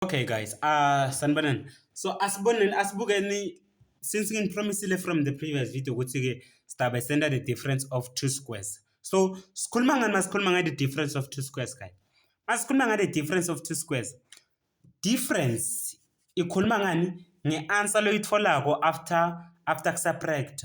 Okay guys, uh sanibonani. So asiboneni asibukeni since nginipromisile from the previous video ukuthi ke sidabe senda the difference of two squares. So sikhuluma ngani masikhuluma ngayo the difference of two squares guys. Masikhuluma ngayo the difference of two squares. Difference ikhuluma ngani ngeanswer loyitholako after after kusubtract.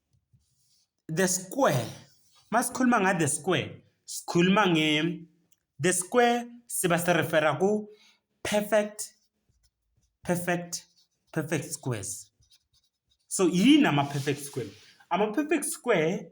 the square masikhuluma nga the square sikhuluma nge the square siba se refera ku perfect perfect perfect squares so yini ama perfect square ama perfect square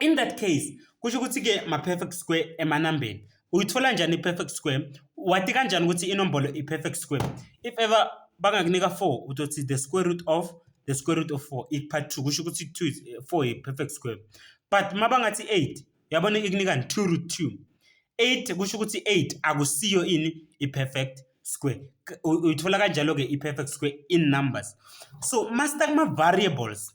In that case, kusho ukuthi ke ma perfect square emanambeni. Uyithola njani i-perfect square? Wati kanjani ukuthi inombolo i-perfect square? If ever bangakunika 4 utothi the square root of the square root of 4 ikupha 2 kusho ukuthi 2 is 4 eh, i-perfect square. But mabangathi 8 yabona ikunikani 2 root 2. 8 kusho ukuthi 8 akusiyo ini i-perfect square. Uyithola kanjalo ke i-perfect square in numbers. So master kuma variables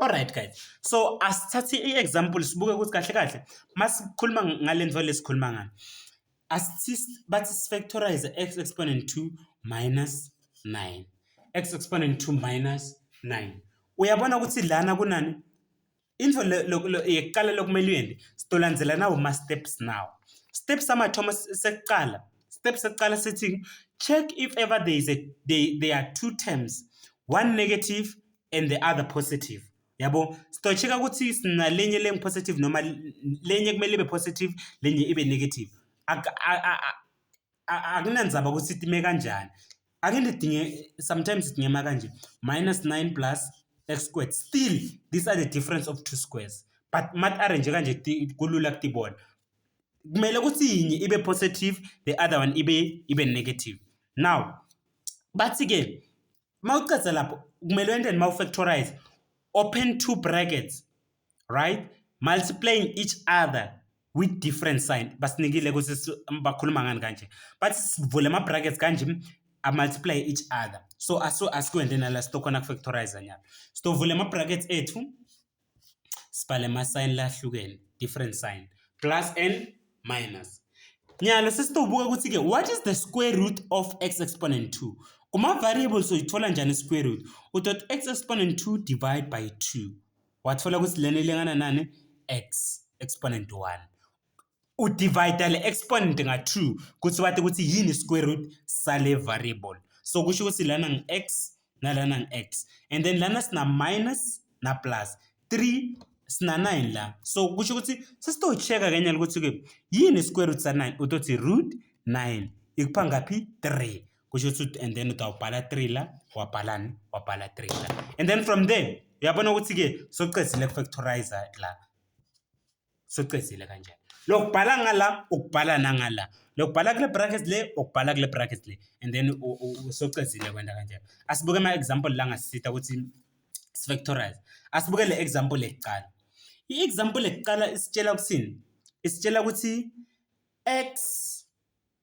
Alright guys. So asithathe i-example sibuke ukuthi kahle kahle masikhuluma ngale nto le sikhuluma ngani. Asithi bathi sifactorize x exponent 2 minus 9. x exponent 2 minus 9. Uyabona ukuthi lana kunani? Into yokuqala lokumele uyenze sidolandzelana uma steps now. Steps amathoma sekuqala. Steps sekuqala sithi check if ever there is a they, there are two terms, one negative and the other positive yabo sitocheka ukuthi sinalenye lengi positive noma lenye kumele ibe positive lenye ibe negative akunanzaba ukuthi itime kanjani ake ndidinge sometimes sidinge ma kanje minus 9 plus x squared still these are the difference of two squares but mat arrange kanje kulula kutibona kumele ukuthi yinye ibe positive the other one ibe ibe negative now bathi ke uma ucedza lapho kumele wente noma ufactorize open two brackets right multiplying each other with different sign basinikile ukuthi bakhuluma ngani kanje bathi sivule ama-brackets kanje amultiply each other so aso asikwende nala sitokhona kufactorize nyalo sitovula ama-brackets ethu sibhale ama-sign lahlukene different sign plus and minus nyalo sesitobuka ukuthi-ke what is the square root of x exponent 2 kuma-variables uyithola njani i-square root udot x exponent 2 divide by 2 wathola ukuthi lena ilingana nani x exponent 1 udivide le exponent nga-2 kuthi wathi ukuthi yini i-square root sale variable so kusho ukuthi lana ngi-x nalana ngi-x and then lana sina-minus na-plus 3 sina-9 la so kusho ukuthi sesitocheka kenyala ukuthi-ke yini i-square root sa-9 utothi root 9 ikupha ngaphi 3 kusho ukuthi and then utawubhala 3 la wabhalani wabhala 3 la and then from there uyabona ukuthi-ke sokucedile ku-factorizer la sucedzile kanje lokubhala ngala ukubhala nangala lokubhala kule bracket le ukubhala kule bracket le and then usucedzile kwenda kanje asibuke ama example la ngasisita ukuthi sifactorize asibuke le example ekuqala i example ekuqala isitshela ukuthini isitshela ukuthi x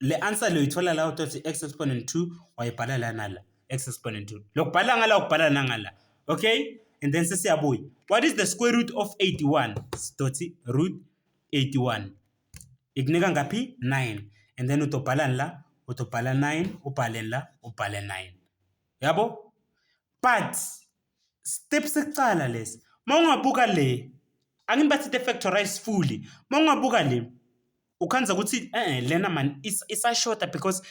Le answer loyithola la uthi x exponent 2 wayibhala la nala x exponent 2. Lokubhala ngala ukubhala nangala. Okay? And then sesiyabuya. What is the square root of 81? Sidothi root 81. Ikunika ngaphi? 9. And then utobhalani la? Utobhala 9, ubhale la, ubhale 9. Yabo? But step sekuqala lesi. Mawungabuka le. Angini bathi the factorize fully. Mawungabuka le. ukhanza ukuthi eh lena man isashoda because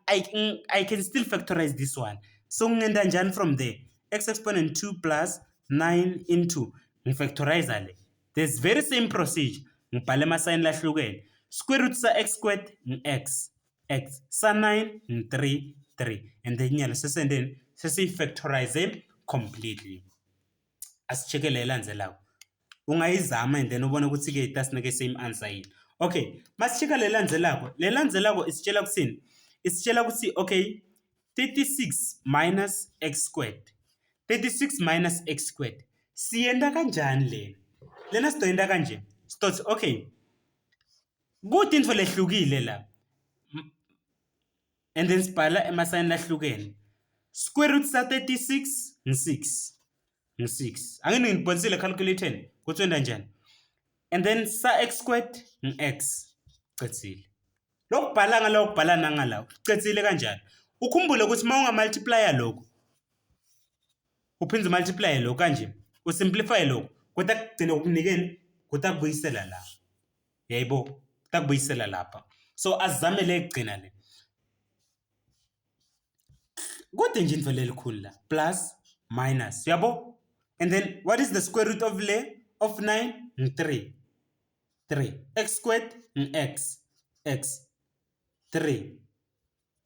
I, I can still factorize this one so ngingenda njani from there x exponent 2 plus 9 into ngifactorize le this very same procedure ngibhale amasayini lahlukene square root sa x squared ngi-x x sa 9 ngi-3 3 and then nyalo sesendeni sesiyifactorize completely asi-check-e le elandzelako. Ungayizama and then ubone ukuthi-ke itasinike same answer yini. Okay, masi-check-a le elandzelako. Le elandzelako isitshela kuthini? Isitshela ukuthi okay, 36 minus x squared. 36 minus x squared. Siyenta kanjani lena? Lena sizoyenta kanje. Sizothi okay, kude into lehlukile la. and then sibhala emasayini lahlukene square root sa 36 ngi-6 ngi-6 ake ningibhonisile calculating ukuthi wenda njani and then sa x squared ngi-x cethile lokubhala ngala ukubhala nangala ucethile kanjani ukhumbule ukuthi uma ungamultiplya lokhu uphinde umultiplye lokhu kanje usimplifye lokhu kodwa kugcine ukunikeni kodwa kubuyisela la yayibo takubuyisela lapha so azame le kugcina le kodwa nje into lelikhulu la plus minus yabo and then what is the square root of le of 9 3 3 x squared x x 3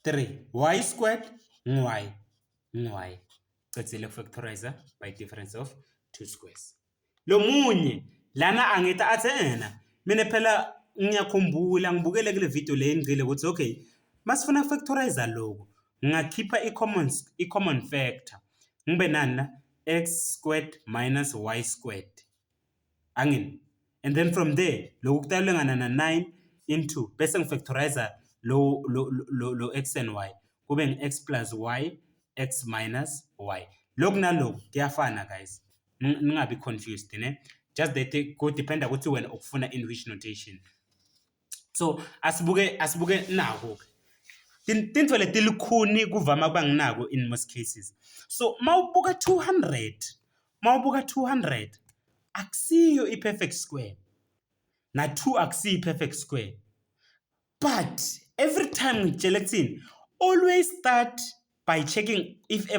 3 y squared y y cedzile ukufactorize by difference of two squares lo munye lana angithi athe yena mina phela ngiyakhumbula ngibukele kule video le ngicile ukuthi okay masifuna ukufactorize lokho ngakhipha i-common i-common factor ngibe nani na x squared minus y squared angin and then from there lokhu kutalwe ngana na 9 into bese ngifactorizer lo lo lo, lo x and y kube ngi x plus y x minus y lokhu nalokhu kuyafana guys ningabi confused ne just that ku dependa ukuthi wena ukufuna in which notation so asibuke asibuke naku tintfo letilukhuni kuvama kuba nginako in most cases so mawubuka 200 mawubuka 200 akusiyo i-perfect square na-2 akusiyo i-perfect square but every time ngitshela ekuthini always start by checking if